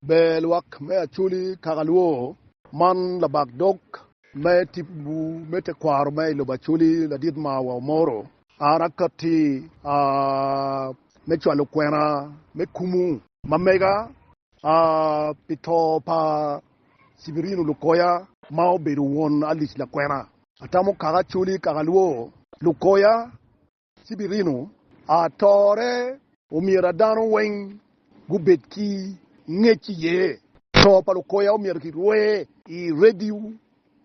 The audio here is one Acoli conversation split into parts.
Ber lwak me Acholi kaka luwo. Man labak dog me tipo-gu me tekwaro me i lobo Acholi ladit ma wa omoro. A Rakatti a me cwalo kwena me kumu. Ma mega a pi to pa Sibirino Lukoya. Ma obedo won alic lakwena. Atamo kaka Acholi kaka luwo. Lukoya Ci birino atore. Omyera dano weng gubed ki ngec iye. To pa lukoya omyero kirwer. I radio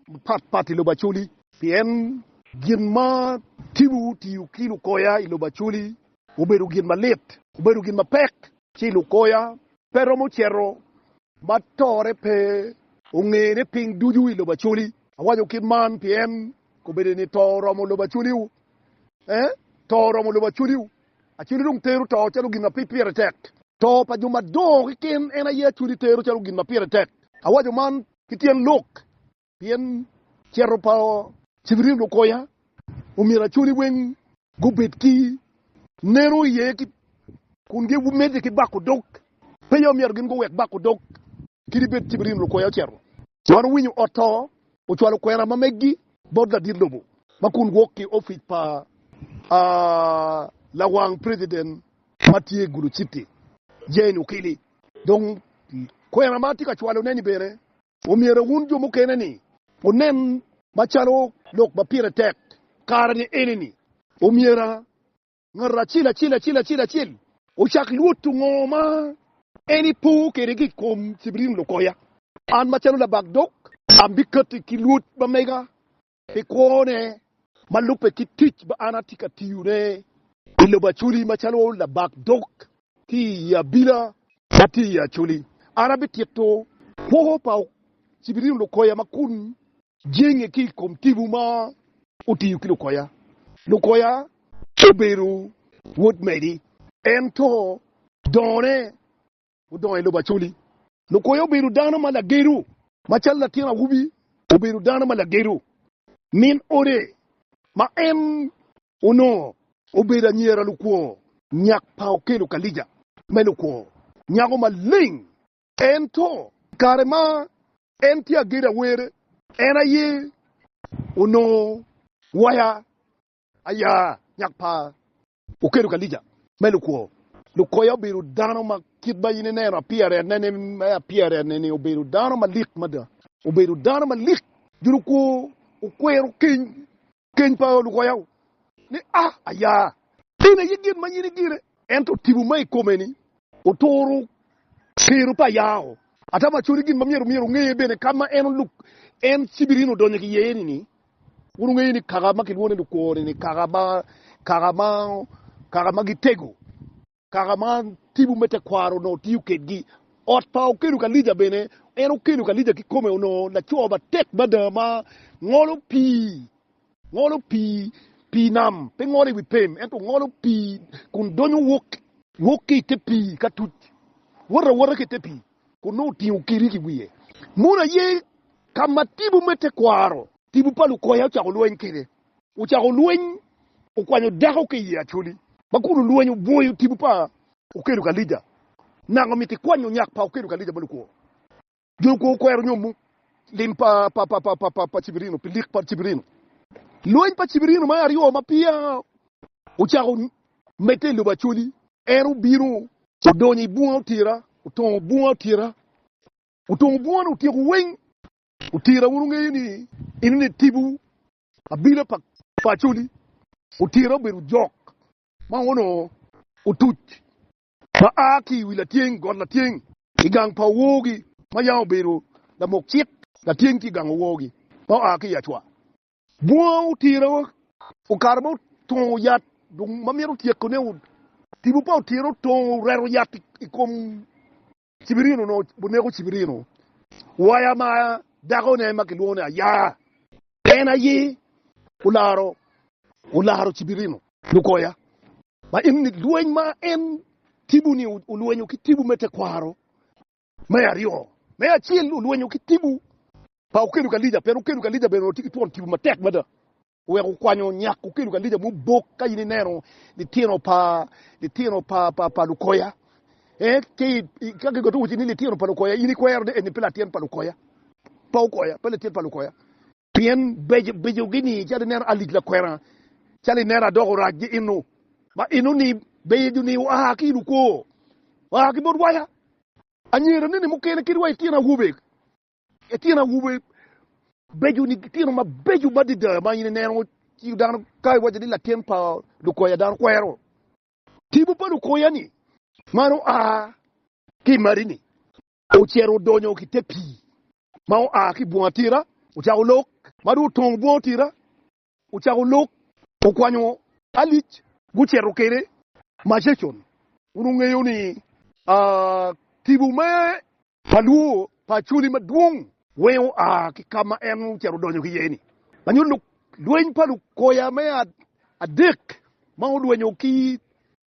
mapat pat i lobo Acholi. Pien gin ma tibu tiyo ki lukoya i lobo Acholi obedo gin malit, obedo gin mapek. Ci lukoya pe romo ceto ma tore pe ongene piny ducu i lobo Acholi. Awaco kit man pien kobedeni to oromo lobo Acholi Ee, to oromo lobo acwaliwu. Acwali dong tero to calo gin ma pire tek. To pa jo madongo keken en aye acwali tero calo gin ma pire tek. Awaco man ki tyen lok, pien cito pa. Cibirin okonya, omyero acwali weng gubed ki neno iye kun gimedde ki bako dog. Peya omyero gin guwek bako dog Kadi bed Cibrim lukwoya ocito. Man owinyo ot to, ocwalo kwena ma meggi bot ladit lobo ma kun gwok ki ofic pa lawang preciden ma tye i Gulu Citi, Jane Ukili. Dong kwena ma atye ka cwalone-ni bene omyero wun jo mukene-ni wunen macalo lok ma pire tek kare-ni eni-ni, omyera Ngat acel acel acel acel acel. Ocak lwoto ngo ma en epo kwede ki i kom cibirin lukoya? An macalo labak dog ambikati ki lwot ma mega pi kwone ma lubbe ki tic ma an atye ka tiyone i lobo Acholi macalo labak dog. Ki i abila ma tye i Acoli, an abitito kwo pa Cibiriyo Lukoya ma kun jenge ki i kom tipo ma otiyo ki Lukoya. Lukoya obedo wod Medi, ento dongone odongo i lobo Acoli. Lukoya obedo dano ma lagedo, macalo latin awobi obedo dano ma lagedo min ode ma en Onongo obedo anyira lukwor. Nyak pa okelo ka lica me lukwor nyako maleng. Ento i kare ma en tye agedo awere, en aye onongo waya aya nyak pa okelo ka lica me lukwor. Lukoya obedo dano ma kit ma in ineno appearance-ne-ni me appearance-ne-ni obedo dano malik mada. Obedo dano malik. Jo lukwor okwero keny Keny pa lukoyau ni a ayaa. In aye gin ma in igine. Ento tipo ma i kome ni oturo kero pa ayao. Ata maconi gin ma myero myero ongeye bene ka ma en oluk en cibirin odonyo ki iye ni ni wun wungeyo ni kaka ma kilwongo ni lukwo ni ni kaka ma kaka ma kaka ma gitego. Kaka ma tibu me tekwaro onongo tiyo kedgi, ot pa okedo kalija bene en okedo kalija kikome onongo laco matek mada ma ngolo pii, ngolo pii, pii nam, pe ngolo i wi pem ento ngolo pii kun donyo wok, wok ki i te pii ka tuc, wot awota ki i te pii kun nongo otingo kirik i wiye. Mono aye ka ma tibu me tekwaro, tibu pa lukoya ocako lweny kede. Ocako lweny, okwanyo dako ki i Acholi. Ma kun olweny obwoyo tipo pa okedo Kalija, naka omito ikwanyo nyak pa okedo Kalija ma lukwo. Jo lukwo okwero nyomo lim pa pa Cibirino pi lik pa Cibirino. Lweny pa Cibirino me aryo ma peya ocako medde i lobo Acholi, en obino odonyo i bunga Otira, otongo bunga Otira, otongo bungane otyeko weng. Otira wun wungeyo ni in ni tipo abila pa Acholi otira obedo jok ma onongo otuc ma a ki i wi latyeng got latyeng i gang pa owogi ma yam obedo lamok cik latyeng ki i gang owogi ma oa ki i Acwa. Bunga otira okato ma otongo yat dong ma myero otyekone. Tipo pa otira otongo oreto yat i kom Cibirino onongo oneko Cibirino waya ma dakone ma kilwongo ni Aya. En aye olaro olaro Cibirino. Lukoya, ma en ni lweny ma en Tibu-ni olwenyo ki Tibu me tekwaro me aryo. Me acel olwenyo ki Tibu pa okedo Kalija pien okedo Kalija bene onongo tye ki twon Tibu matek mada. Wek okwanyo nyako kelo kalica mubok ka in ineno litino pa litino pa pa pa lukoya. Eh, ci ka gigoto wuci ni litino pa lukoya, in ikwero ni eni pe latin pa lukoya, pa okoya, pe latin pa lukoya. Pien beco beco gini calo ineno alic lakwena, calo ineno adok orac gi inu, ma inu ni beco ni oa ki ilukwo, oa ki bot waya. Anyira neni mukene kit wa itino awobe Ëtyen awobe beco ni gitino mabeco madada ma in ineno ci dano ka iwaco ni latin pa lukoya dano kwero tipo pa lukoya ni man oa ki mari ni ocito odonyo ki te pii ma oa ki bunga tira ocako lok ma dong otongo bunga tira ocako lok okwanyo alic gucito kede macecon wun wungeyo ni tipo me Pa lwo pa Acholi madwong. Weng oa ki ka ma en ocito odonyo ki iye ni. Lanyo luk lweny pa lukoya me adek ma olwenyo ki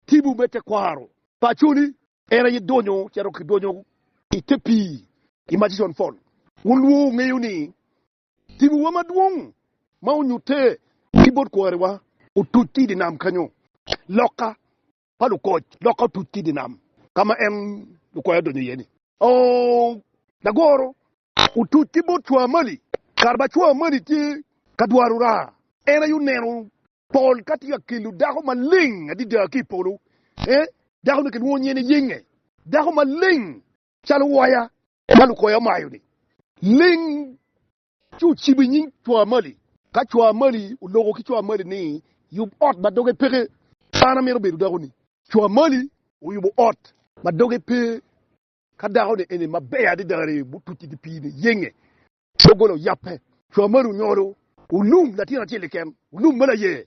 tibu me tekwaro pa Acholi. En aye donyo cito ki donyo i te pii i Murchison Fall. Wun lwo wungeyo ni tibuwa madwong ma onyutte ki bot kwariwa otuc ki i dye nam kenyo. Loka pa lukoc lokke otuc ki i dye nam ka ma en lukwoyo odonyo iye-ni. Lagoro otuc ki bot cwaa mali kare ma cwaa mali tye ka dwaro raa. En aye oneno pol ka tye ka kelo dako maleng adada ki i polo. Dako-ni kilwongo nyinge ni Yenge, dako maleng calo waya ma lukwoya omayo-ni. Leng Ci ocibo i nying co amali. Ka co amali oloko ki co amali ni, Yub ot ma doge peke, an amito bedo dakoni. Co amali oyubo ot ma doge pe ka dakoni eni maber adada aree mutuce ki pii ni yenge, doggola oyape. Co amali onyolo olum latin acel keken, olum me laye.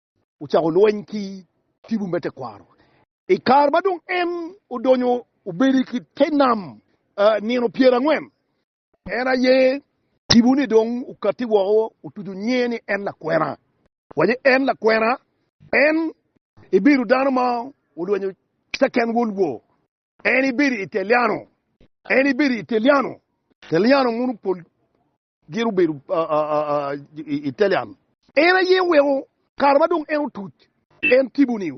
ocako lweny ki tibu me tekwaro. I kare ma dong en odonyo obedo ki te nam nino pyer angwen, en aye tibu-ni dong okatti woko otuco nyinge ni en lakwena. Waco en lakwena, en ebedo dano ma olwenyo Second World War. En ebedo Italiano. En ebedo Italiano, Italiano muno pol Gin obedo Italian. En aye oweko kare ma dong en otuc. En tipo-ni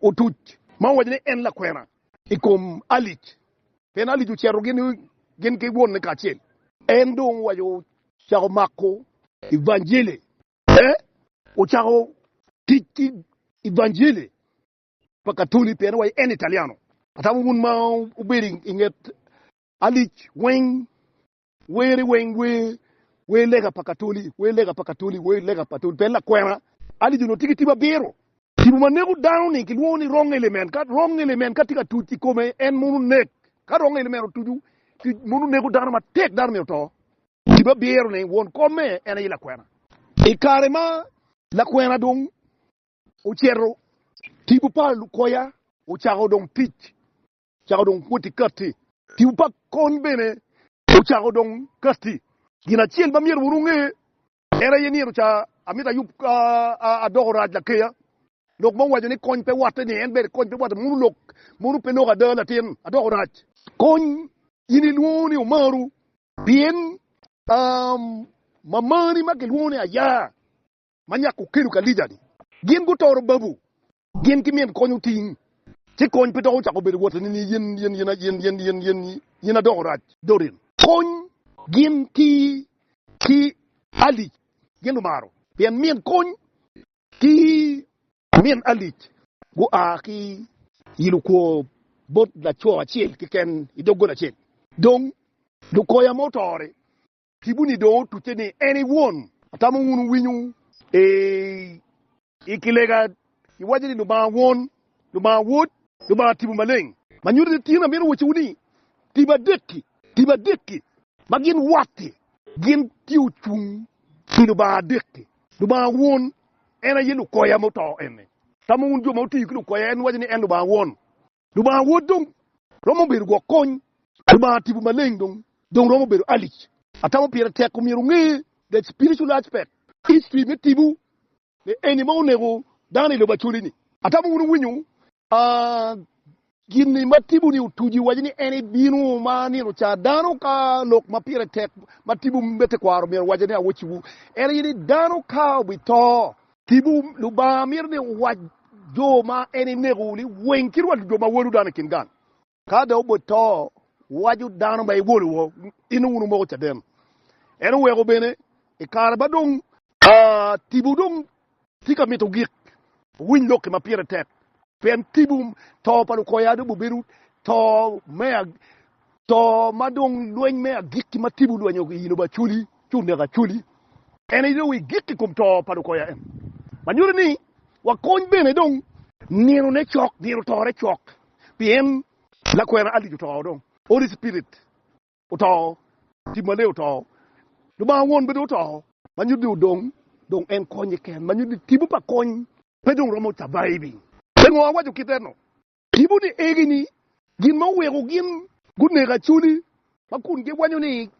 otuc ma owaco ni en lakwena i kom Alic, pien Alic ocito gin ki wonne kacel. En dong owaco ocako mako Ivanjili, pe ocako tic ki Ivanjili pa Katoli, pien owaco en Italiano. Atamo wun ma wubedo i nget Alic weng Weri weng wer, wer lega pa katoli, wer lega pa katoli, wer lega pa toli, pe lakwena, adidi onongo tye ki tibu abiro. Tibu ma neko dano ni kilwongo ni wrong element, ka wrong element ka tye ka tuc i kome en mono nek, ka wrong element otucu tic mono neko dano matek dano myero oto. Tibu abiro ni won kome en aye lakwena. I kare ma lakwena dong oceto, tibu pa lukoya ocako dong tic Cako dong kwoti katti. Tipo pa kony bene ocako dong katti. Gin acel ma myero wun wunge en aye ni eroca amito ayub adoko orac lakeya. Lok ma wuwaco ni kony pe watte ni en ber kony pe watte mono lok mono pe lok ada latin adoko orac. Kony in ilwongo ni omaru pien mamani ma kilwongo ni Aya ma nyako okelo ka Lija ni gin gutoro babu Gin ki min kony oting. Ci kony pe dok ocako bedo woteni ni yen adoko rac. Dorin. Kony gin ki ki Alic gin lumaro pien min kony ki min Alic gua ki i lukwo bot laco acel keken i doggola acel. Dong lukoya ma otore Kibuni dong otucce ni en i Won. Atamo wun wuwinyo ee. I kilega iwaco ni Lubanga Won, Lubanga Wod, Lubanga Tipo Maleng. Ma nyuto ni tin, amito wacciwu ni tipo adek-ki, tipo adek-ki ma gin watti, gin tye ocung pi Lubanga adek-ki. Lubanga Won en aye Lukoya muto eni. Tamo wun jo ma otiyo ki Lukoya en waco ni en Lubanga Won? Lubanga wod dong romo bedo gwok kony. Lubanga tipo maleng dong dong romo bedo alic. Atamo pire tek omyero onge that spiritual aspect. History me tipo ni eni ma oneko dano ilobo Acholi ni. Atamo wun iwinyo gin ni ma tipo ni otuco iwaco ni en ibino ma nino ca dano ka lok ma pire tek ma tipo me tekwaro myero owaco ni awocciwu en aye ni dano ka obito Tipo, Lubanga mito ni wuwac jo ma en eneko ni, 'Winy ci rwat jo ma wolu dano i kin gang. Ka dong obot to, wuwaco dano ma iwolu woko, 'In nongo wun wumoko caden. En oweko bene i kare ma dong. Tipo dong tye ka mito gik owiny lok-ki ma pire tek, pien tipo to pa lukoya dong bibedo to me. To ma dong lweny me agikki ma tibu lwenyo ki ino ba culi ci oneko aculi, en aye dong igik i kom to pa lukoya en, ma nyuto ni wakony bene dong. Nino-ne cok, nino tore cok, pien lakwena Alice oto dong, Holy Spirit oto, Tim Maler oto, Lubanga Won bene oto, ma nyuto ni odong dong en konye keken, ma nyuto ni tibu pa kony pe dong romo surviving. Pingo awaco kite-nu? Tipo ni egi ni gin ma oweko gin guneko Acholi ma kun giwanyo ni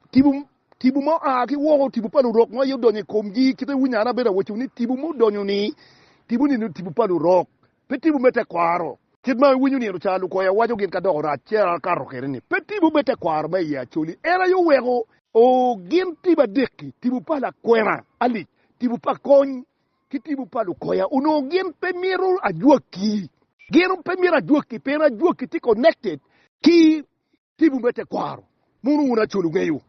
tipo ma oa ki woko tipo pa lurok ma aye odonyo i komgi kit ma iwinyo an abedo awaco ni tipo ma odonyo ni tipo ni tipo pa lurok pe tipo me tekwaro kit ma iwinyo nino ca lukoya waco gin ka doko rac ci akato kwede ni pe tipo me tekwaro ma iye Acholi en aye oweko. Oo gin tipo adek-ki, tipo pa lakwena, alic, tipo pa kony Ki tipo pa lukoya onongo gin pe mito ajwaki. Gin pe mito ajwaki pien ajwaki tye connected ki tipo me tekwaro. Mono wun Acol wungeyo?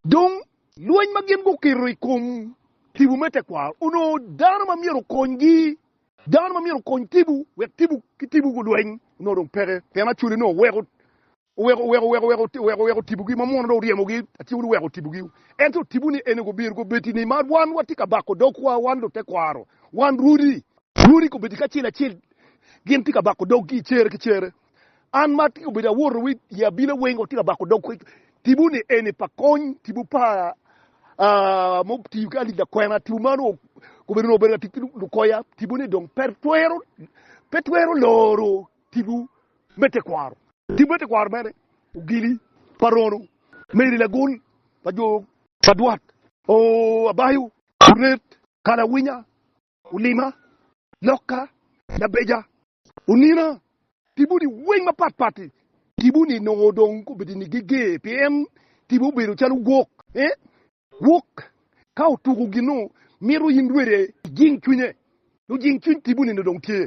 Dong lweny ma gin guketo i kom tipo me tekwaro onongo dano ma myero okonygi, dano ma myero okony tipo wek tipo ki tipo gulweny onongo dong peke pien Acoli onongo weko Oweko, oweko, oweko, oweko, oweko, oweko otibogi, ma muno dong oryemogi, atyeko ni weko otibogi. Ento otibo ni en gubiru gubedi ni ma wan watye ka bako dogwa, wan lutekwaro, wan rwodi, rwodi gubedi kacel acel, gin tye ka bako doggi cere ki cere. An ma atyeko bedo awoto wi i abila weng watye ka bako dog tibo ni eni pa kony, tibo pa aa, mo tiyo ki alip lakwena, tibo ma onongo gubedo nongo obedo ka tic ki lukoya, tibo ni dong pe twero, pe twero loro. tipo me tekwaro. Tipo me tekwaro mene ogili pa rono me iri lagol pa jo pa dwat oo, abayo, oret, kalawinya, olima, lokka, labeja, onina, tipo ni weng mapat pat i tipo ni nongo dong obedo ni geger pien tipo obedo calo gwok eh gwok ka otuko gin nongo mito in rwede ijing cwinye nongo jing cwiny tipo ni nongo dong tye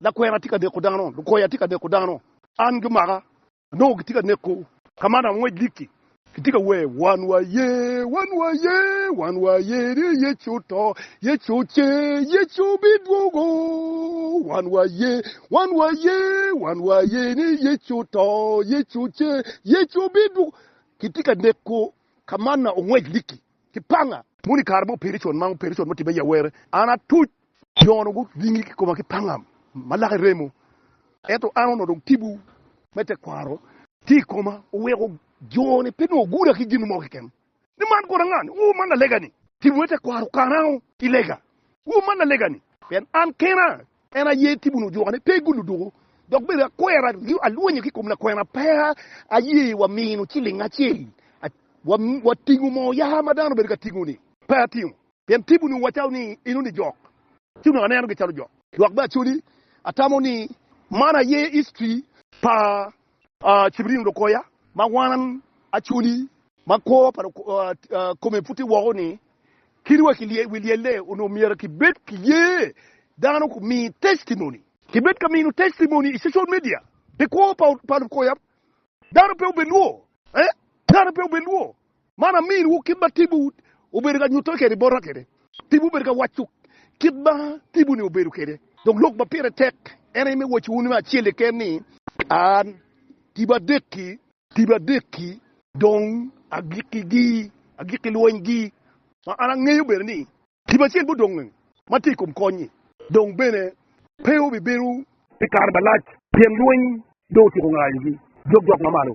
Lakwena atye ka neko dano. Lukoya atye ka neko dano. An gimaka. Nongo gitye ka neko. Ka man angwec likki. Kitye ka wer, Wan waye, wan waye, wan waye ni Yecu oto, Yecu ocer, Yecu bidwogo. Wan waye, wan waye, wan waye ni Yecu oto, Yecu ocer, Yecu bidwogo. Kitye ka neko. Ka man angwec likki. ki panga. Mono i kare ma ope con, ma ope con, ma otibbe i awerre, an atuc. Yono onongo gingi ki koma ki panga ma lake remo, ento an onongo dong tipo me tekwaro. Tye i koma, oweko jo-ni pe nongo guda ki gin mo keken. Ni man kore ngani? Oo, man lalega-ni! Tipo me tekwaro okana i lega. Oo, man lalega-ni! Pien an kena En aye tipo ni ojuka ni pe gulu duku dok bene akwera ringo alwonyo ki kom lakwena pe aye wa mino ciling acel wa tingo moo yaka ma dano bedo ka tingo ni pe atingo pien tipo ni wa calo ni eno ni jok ci onongo aneno gi calo jok dok bene acoli atamo ni man aye history pa Cibrin lukoya ma wan acoli. Ma kwo pa kome puti woko ni, Kit wa ki wi lyelle onongo myero kibed ki ye dano ku mi testimony. Kibed ka mino testimony i social media pi kwo pa lukoya, dano pe obe lwor. Man aminiwu kit ma tibu obedo ka nyutte kwede bota kwede. Tibu obedo ka waco kit ma tibu-ni obedo kwede. Dok lok ma pire tek en aye me waco wunu acel keken ni, An tibu adek-ki. Tibu adek-ki. Dong agikkigi, agikki lweny-gi. Ma an angeyo bene ni tibu acel ma odong-ngi ma tye i kom kony-nyi dong bene pe obibedo pi kare malac, pien lweny dong otyeko ngayogi, dok jok ma malo